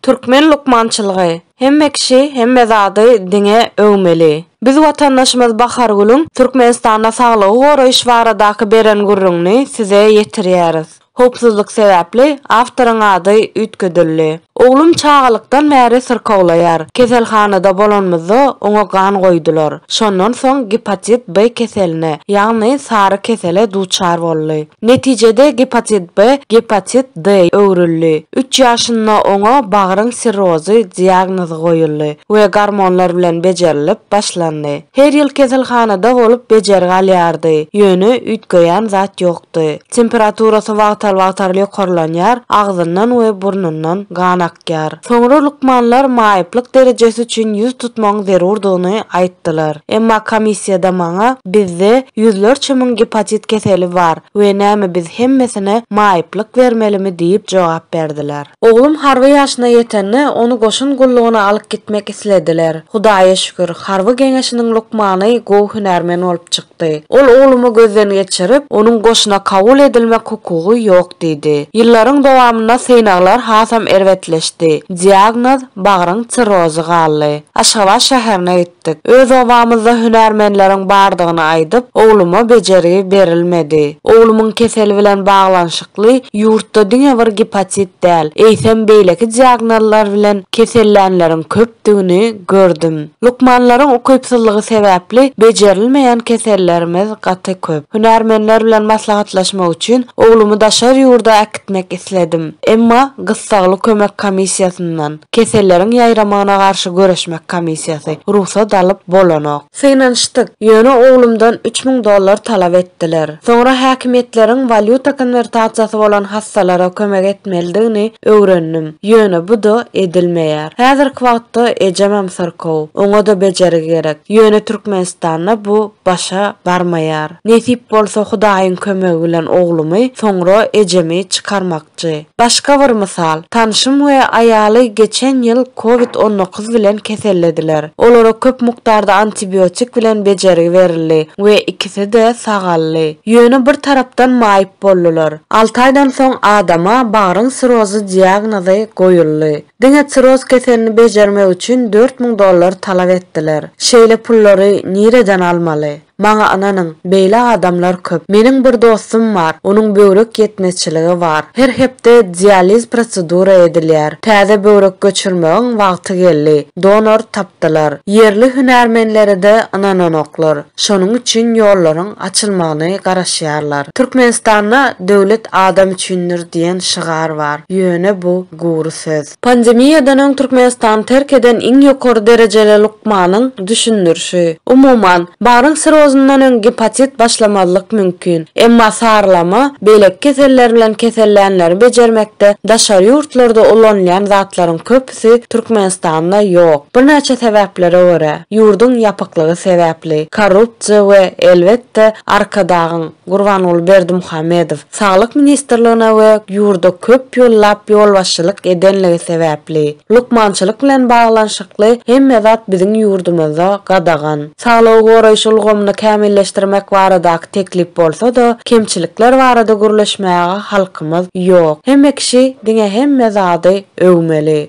Türkmen lukmançylygy, Hemme kişi hemme zady diňe öwmeli. Biz watandaşymyz Bahargülüň Türkmenistanda saglygy goraýyş baradaky beren gürrüňini size ýetirýäris. Howpsuzlyk sebäpli awtoryň ady üýtgedildi. Oglum çagalykdan bäri syrkawlaýar. Keselhanada bolanymyzda oňa gan goýdular. Şondan soň gepatit B keseline, ýagny sary kesele duçar boldy. Netijede gepatit B gepatit D öwrüldi. Üç ýaşynda oňa bagryň sirrozy diagnozy goýuldy we gormonlar bilen bejerilip başlandy. Her ýyl keselhanada bolup bejergi alýardy, ýöne üýtgeýän zat ýokdy. Temperaturasy wagtal-wagtal ýokarlanýar, agzyndan we burnundan gan akýar. Soňra lukmanlar maýyplyk derejesi üçin ýüz tutmagyň zerurdygyny aýtdylar. Emma komissiýada maňa, Bizde ýüzlerçe müň gepatit keseli bar we näme biz hemmesine maýyplyk bermelimi diýip jogap berdiler. Oglum harby ýaşyna ýetende, ony goşun gullugyna alyp gitmek islediler. Hudaýa şükür, harby geňeşiniň lukmany gowy hünärmen bolup çykdy. çykdy. Ol oglumy gözden geçirip, onuň goşuna kabul edilmek hukugy ýok diýdi. Ýyllaryň dowamynda synaglar hasam erbetleşdi. Diagnoz, bagryň sirrozy galdy. Aşgabat şäherine gitdik. Öz obamyzda hünärmenleriň bardygyny aýdyp, ogluma bejergi berilmedi. Oglumyň keseli bilen baglanyşykly ýurtda diňe bir gipatit däl, eýsem beýleki diagnozlar bilen kesellänleriň köp etdigini gördüm. Lukmanlaryň ukypsyzlygy sebäpli bejerilmeýän kesellerimiz gaty köp. Hünärmenler bilen maslahatlaşmak üçin oglumy daşary ýurda äkitmek isledim. Emma gyssagly kömek komissiýasyndan, Keselleriň ýaýramagyna garşy göreşmek komissiýasy, rugsat alyp bolanok. Synanyşdyk, ýöne oglumdan üç müň dollar talap etdiler. Soňra häkimiýetleriň walýuta konwertasiýasy bolan hassalara kömek etmelidigini öwrendim, ýöne bu-da edilmeýär. Häzirki wagtda ejemem syrkaw, oňa-da bejergi gerek, ýöne Türkmenistanda bu başa barmaýar. Nesip bolsa Hudaýyň kömegi bilen oglumy, soňra ejemi çykarmak. Ýaşajy. Başga bir mysal, tanşym we aýaly geçen ýyl covid on dokuz bilen kesellediler. Olara köp mukdarda antibiotik bilen bejergi berildi we ikisi-de sagaldy. Ýöne bir tarapdan maýyp boldular. Alty aýdan soň adama bagryň sirozy diagnozy goýuldy. Diňe siroz keselini bejermek üçin dört müň dollar talap etdiler. Şeýle pullary nireden almaly? Maňa ynanyň, beýle adamlar köp. Meniň bir dostum bar, onuň böwrek ýetmezçiligi bar. Her hepde dializ prosedura edilýär. Täze böwrek göçürmegiň wagty geldi. Donor tapdylar. Ýerli hünärmenlere-de ynananoklar. Şonuň üçin ýollaryň açylmagyny garaşýarlar. Türkmenistanda Döwlet adam üçindir diýen şygar bar. Ýöne bu gury söz. Pandemiýadan öň Türkmenistany terk eden iň ýokary derejeli lukmanyň düşündirişi. Umuman, baryň sirozyndan öň gepatit başlamazlyk mümkin. Emma sarylama beýleki keseller bilen kesellänleri bejermekde daşary ýurtlarda ulanylýan zatlaryň köpüsi Türkmenistanda ýok. Birnäçe sebäplere görä, ýurduň ýapyklygy sebäpli, korrupsiýa we, elbetde, Arkadagyň, Gurbanguly Berdimuhamedow Saglyk ministrligine we ýurda köp ýyllap ýolbaşçylyk edenligi sebäpli, Lukmançylyk bilen baglanyşykly hemme zat biziň ýurdumyzda gadagan. Saglygy goraýyş ulgamyny kämilleşdirmek baradaky teklip bolsa-da, kemçilikler barada gürleşmäge halkymyz ýok. Hemme kişi diňe hemme zady öwmeli.